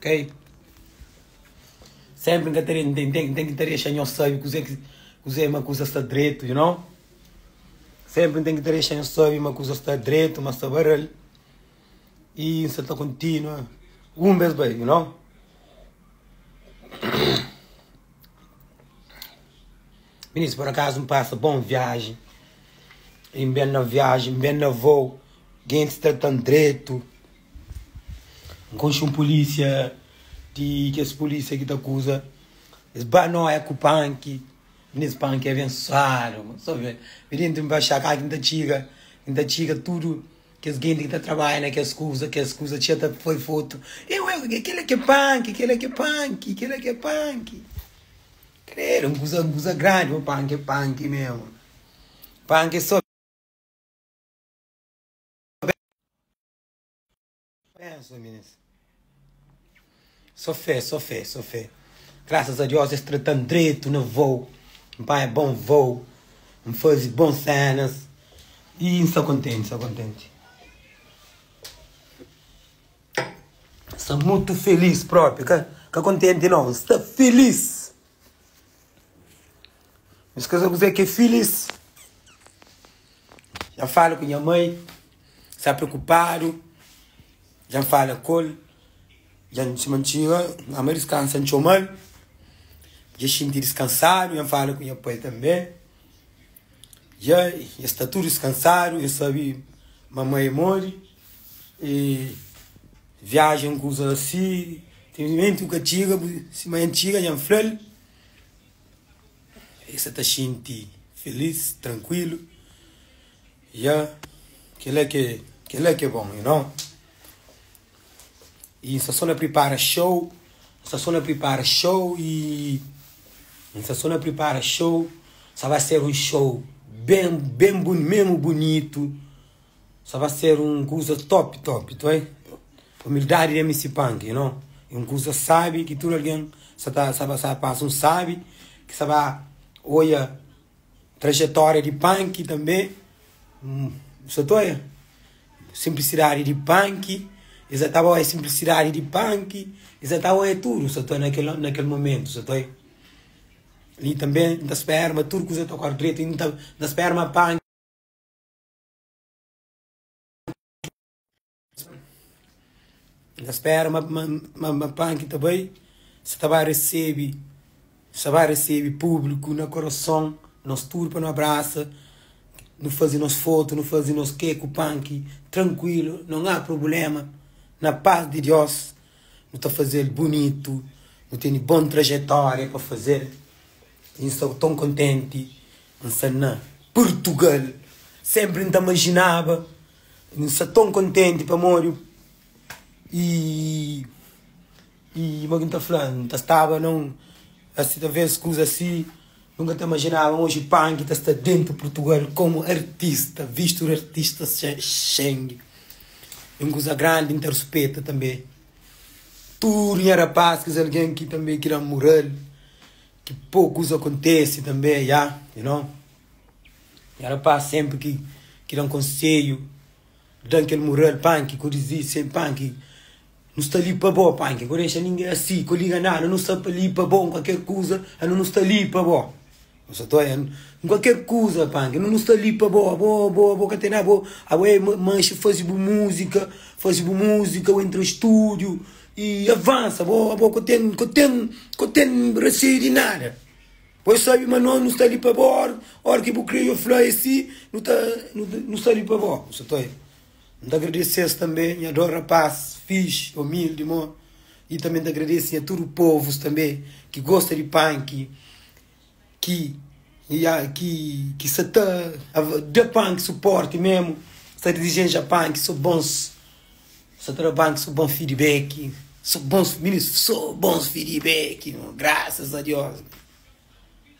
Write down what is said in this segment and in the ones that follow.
Kei. Senpri n'ka ta den ten ten ki ta dexa nhos sabi kuzê ki kuzê ma kuza sta dretu, you know. Senpri n'ten ki ta dexa nhos sabi ma kuza sta dretu, ma sta ba rel. Y n'sa ta kontinua un bes bai, you know. Minis, por akazu n'pasa bon viaji, y n'ben na viaji, n'ben na vou, gentis trata-m dretu. N konxe un pulísia di kes pulísia ki ta akuza es ba noia ku panki i nes panki é abensuadu bu sta bê bê dentu n bai axá ka ki n ta txiga ki n ta txiga tudu kes genti ki ta trabadja na kes kuza kes kuza txeu ta foi fotu ê ué kel-la ki é panki kel-la ki é panki kel-la ki é panki kredu un kuza un kuza grandi ô panki é panki mésmu panki é sô. Pensa mes. So fé, so fé, so fé. Graças a Deus es trata-m dretu na vôu. N panha bon vôu, N faze bon sénas i N sta kontenti, sta kontenti. N sta mutu filís própi, ka kontenti nau, N sta filís. Nhos ka sa kuzê ki é filís. Dja N fala ku nha mai, N sta preokupadu. Dja N fala ku el, dja N sima N txiga nha mai diskansa, N txoma-l, dja el xinti diskansadu. Dja N fala ku nha pai tanbê, dja es sta tudu diskansadu, es sabe ma mai é móre. I viajen, kuzas asi, infelizmenti bu ka txiga, bu sima N txiga, dja N fla-l. E sa ta xinti filís, trankuilu. Ya, kel-la ki é, kel-la ki é bon, you know. I N sta sô na pripara xou, N sta sô na pripara xou i N sta sô na pripara xou, sa ba ser un xou ben, ben bun, mésmu bunitu. Sa ba ser un kusa topi topi tu oi umildadi di mc punk you know e un kusa sabi ki tudu algen sa ta sa ba sa pasa un sabi ki sa ba oia trajetoria di punk tanbe um sa ta oia simplisidadi di punk e sa ta ba oia simplisidadi di punk e sa ta oia tudu sa ta na kel na kel momentu sa ta oi li tanbe nta spera ma tudu kusa ta kore dretu nta nta spera ma punk Na spera ma, ma, ma, ma Panki ta bai, sa ta ba resebe, sa ba resebe públiku na korason, nos tudu pa nu abrasa, nu faze nos fotu, nu faze nos ke ku Panki, trankuilu, non a prubulema, na pas di Diós, nu ta faze-l bunitu, nu tene bon trajetória pa faze-l. N sta ton kontenti N sa na Purtugal Senpri N ta majinaba N sta ton kontenti pamodi i i Mo ki N ta fla N ta staba na un asi Talvês kuza si N ka ta majinaba Oji Panki ta sta dentu Purtugal Komu artista Vistu di artista Xingi é un kuza grandi N ta ruspeta tanbe Tudu nha rapaz Kes algen ki tanbe ki da mural. Ki pokus akontesi tanbe ya you know nha rapaz senpri ki ki dan konsedju dan kel moral panki ku dizi se panki nu sta li pa bo panki ku dexa ninge asi ku liga nada nu sta li pa bo kualker kuza anu nu sta li pa bo nu sa ta kualker kuza panki anu nu sta li pa bo abo abo abo ka ten nada abo abo manxi fazi bu muzika fazi bu muzika we intra studiu E avansa, bo, bo ka ten, ka ten, ka ten raseiu di nada. Bo e sabe ma no, nu sta li pa bo, or, or ki bu kre yo fla es si, nu ta, nu, nu sta li pa bo. N sa ta, N ta agradese-s tanbe, nha dos rapás fixi, umildi, mon. I tanbe N ta agradese nha tudu povus tanbe ki gosta di panki. ki ki sa ta da pan ki su porti memu sa ta dizenja pan ki so bons sa ta da pan ki so bons fidibeki so bons so bons fidibeki ma grasas a dios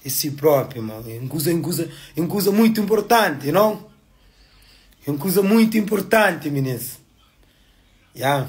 e si propi ma e un kuza e un kuza muitu importanti no e un kuza muitu importanti minis ya.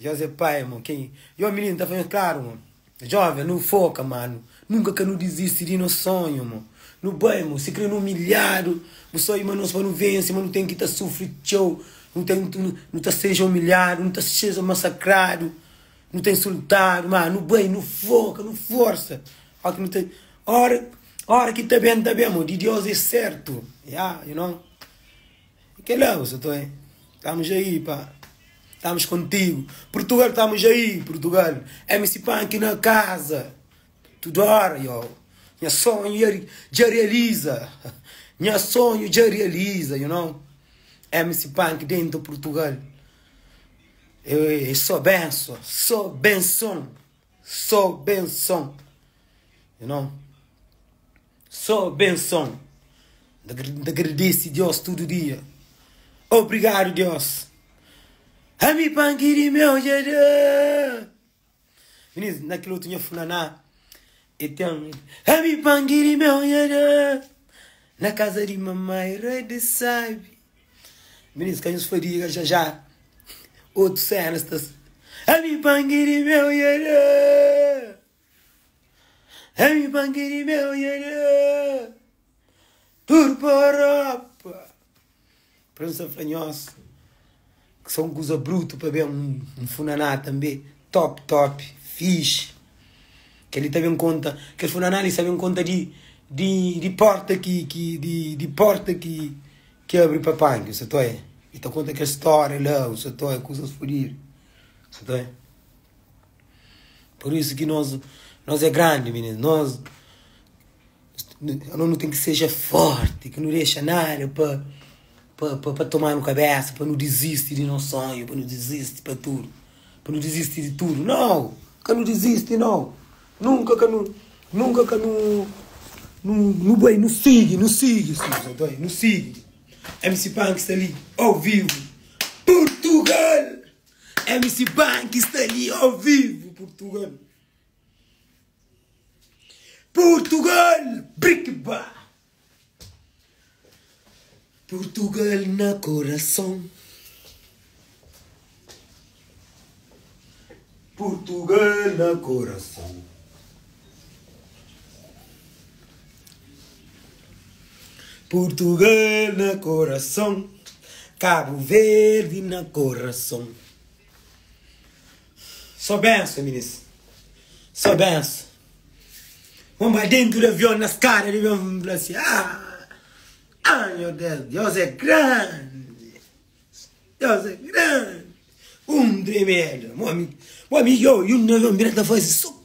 José Pai, Mo ken yo mininu ta fla nhos klaru, mo Jovens nu foka ma nu nunka ka nu dizisti di nos sonhu, mo nu bai, mo sikre nu umilhadu bu só ima nos pa nu vense, ma nu ten ki ta sufri txeu, nu ta nu ta seja umilhadu, nu ta seja masakradu, nu ta insultadu, ma nu bai, nu foka, nu forsa, ó ki nu ta ora, ora ki ta ben ta ben, mo di Dios é sertu, ya, you know. I kel la u sa ta oi. Tamus ja i pa Tamus kontigu Purtugal Tamus ja i Purtugal MC Panky na kaza Tudu ora yo Nha sonhu ya dja realiza Nha sonhu dja realiza you know MC Panky dentu Purtugal Êêê é só benson Só benson Só benson You know. Só benson N ta gradese Deus tudu dia Obrigadu Deus Ami pa N kiri meu dja da Minis na kil otu nha fulaná E ten Ami pa N kiri meu dja da Na kaza di mamai rei di sabi Minis ka nhos fadiga dja dja Otu senas ta Ami pa N kiri meu dja da. Ami bangi di meu yele Tur pa Europa Prensa fla nhos Ki sa un kuza brutu pa ben Un funaná tanbe Top top Fixe Kel-li ta ben konta Kel funaná li sa ben konta di Di porta ki ki Di porta ki Ki abri pa panki N sa ta oia E ta konta kel stória la N sa ta oia kuzas fudidu N sa ta oia. Por isso ki nos nos é grande meninas nos nos tem que seja forte que não deixa nada para para para tomar no cabeça para não desiste de nos sonho para não desiste para tudo para não desiste de tudo não que não desiste não nunca que não nunca que não não boi não sigue não sigue não sigue MC Panks está ali ao vivo Portugal MC Banky sta li ao vivo Portugal Portugal Brikba Portugal na coração Portugal na coração Purtugal na korason, Kabu Verdi na korason. Só benson minis, só benson. Vamos para dentro do avião na escada de vamos falar assim, ah, ah, meu Deus, Deus é grande, Deus é grande. Um tremendo, meu amigo, meu amigo, eu, eu não vou me virar da voz, só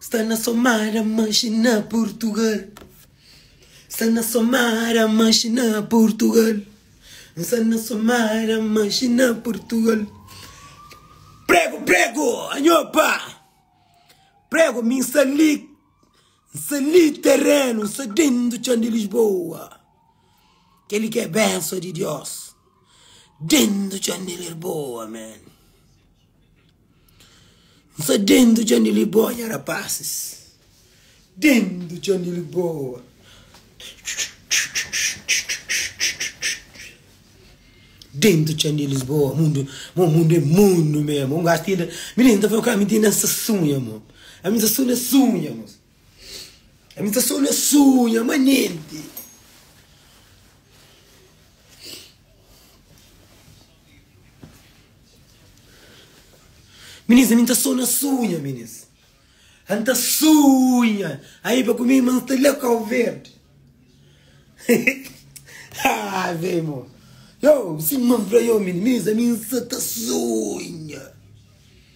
Sta na somada manxi na purtugal Sta na somada manxi na purtugal N sta na somada manxi na purtugal Prego prego anho pa prego mi N sta li N sta li terenu N sta dentu txan di Lisboa. Kel li ki é benso di Diós Dentu txon di Lirboa man N sta dentu txon di Lirboa nha rapasis Dentu txon di Lirboa Dentu txon di Lisboa mundu Mo mundu é mundu mé mo Un gaxi ti inda Mininu ta fla-m ku ami ti inda N sta sunha mo Ami n sta sunha sunha mo Ami ta sta na sunha ma nenti Minis, ami ta sta na sunha minis Ami ta sunha Ai pa ku mi ma sta la kau verdi Haa vei mo Yow si ma fla yo minis Minis ami sa ta sunha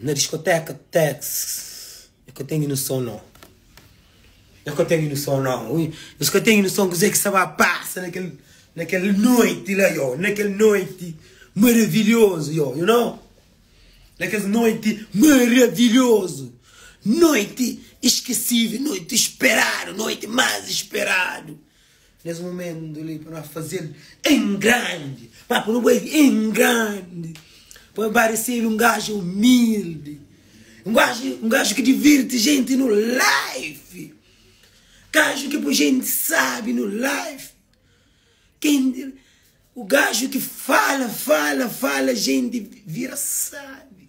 Na diskoteka tex Eu ka ten inuson nau Eu ka ten inuson nau Ui Nhos ka ten inuson kuzê ki sa ba pasa na kel Na kel noiti la yo Na kel noiti maravilhozu yo You know Na kes noiti maravilhozu Noiti iskesível Noiti speradu Noiti más speradu Nes momentu li pa no fazel em grandi pa pa no boi em grandi pa parecel um gajo humilde um gajo um gajo que divirte gente no life gajo que poi gente sabe no life quem o gajo que fala fala fala gente vira sabe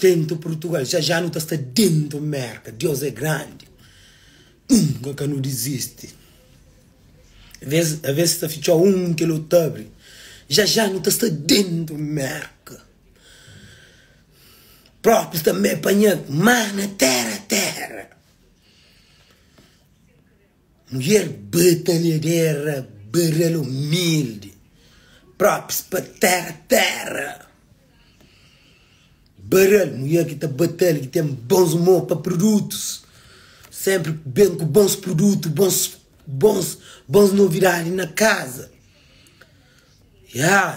Dentu Purtugal ja ja nu ta sta dentu Merka Dios é grandi nunka ka nu dizisti Aves aves ta fitxó un un kel otu ta abri ja ja nu ta sta dentu Merka Propi tanbe panha mar na tera tera. Mulher batalhadera, barral humilde Props pa Terra Terra Barral, mulher ki ta batalha, ki ten bons humor pa produtos Sempre ku ben ku bons produtos, bons bons bons novidade na casa Ya,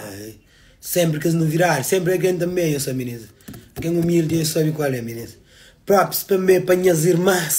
sempre kes novidade, sempre algen ta meia sa meninas Algen humilde, sabe kual é meninas Props tanbe pa nhas irmas.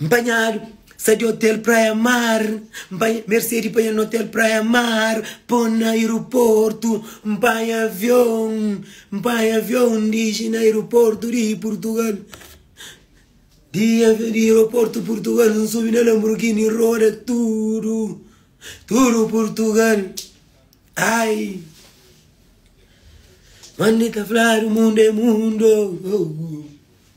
N panhadu sa di otel Praia Mar N panha Mercedes panha na otel Praia Mar Pô-m na aeroportu N panha avion N panha avion N diriji na aeroportu di Purtugal Di aeroportu Purtugal N subi na Lamborghini N roda tudu Tudu Purtugal Ai Mande ta fladu mundu é mundu oh, oh.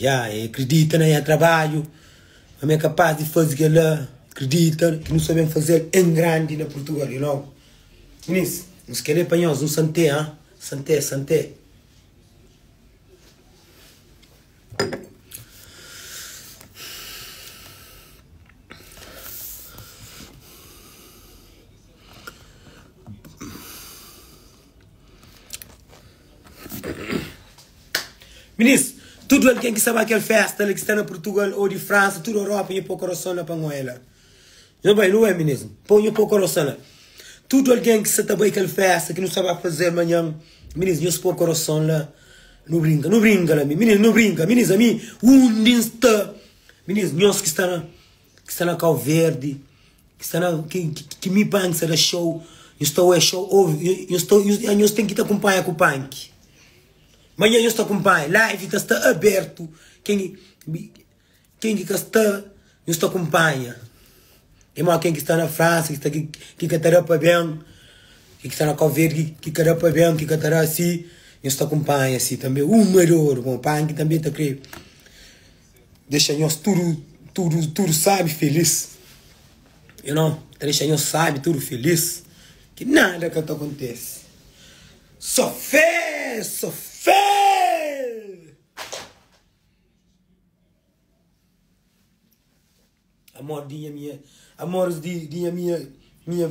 Ya, e kridita na nha trabadju, ma mi é kapas di faze kel-la. Kridita ki nu sta ben faze-l en grandi na Purtugal, you know. Minis, nhos kel-li é pa nhos, un santé, ha? Santé, santé. Minis, tudu algen ki sta ba kel festa la, ki sta na Purtugal ô di Fransa, tudu Europa, nhu pô koroson la pa Ngoé la. Nhu bai, nu bai minis. Npô nhu pô koroson la. Tudu algen ki sta ta bai kel festa ki nu sta ba faze-l manhan, minis, nhos pô koroson la. Nu brinka, nu brinka la mi. Minis, nu brinka. Minis, ami, undi N sta? Minis, nhos ki sta na. ki sta na kau verdi ki sta na ki mi pai ki sta da xou nhos ta oia xou ovi nhos ta nhos ten ki ta kunpanha ku panki manha nhos ta kunpanha live ta sta abertu ken ken ki ka sta nhos ta kunpanha e mo ken ki sta na fransa ki sta ki ka ta da pa ben ki sta na kau verdi ki ka da pa ben ki ka ta da si nhos ta kunpanha si tanbe uma di oru bon panki tanbe ta kre Dexa nhos tudu, tudu, tudu sábi filís Yo nau ta dexa nhos sábi tudu filís Ki nada ka ta kontese Sô fé, sô fé Amor di nha mia, amores di nha mia, mia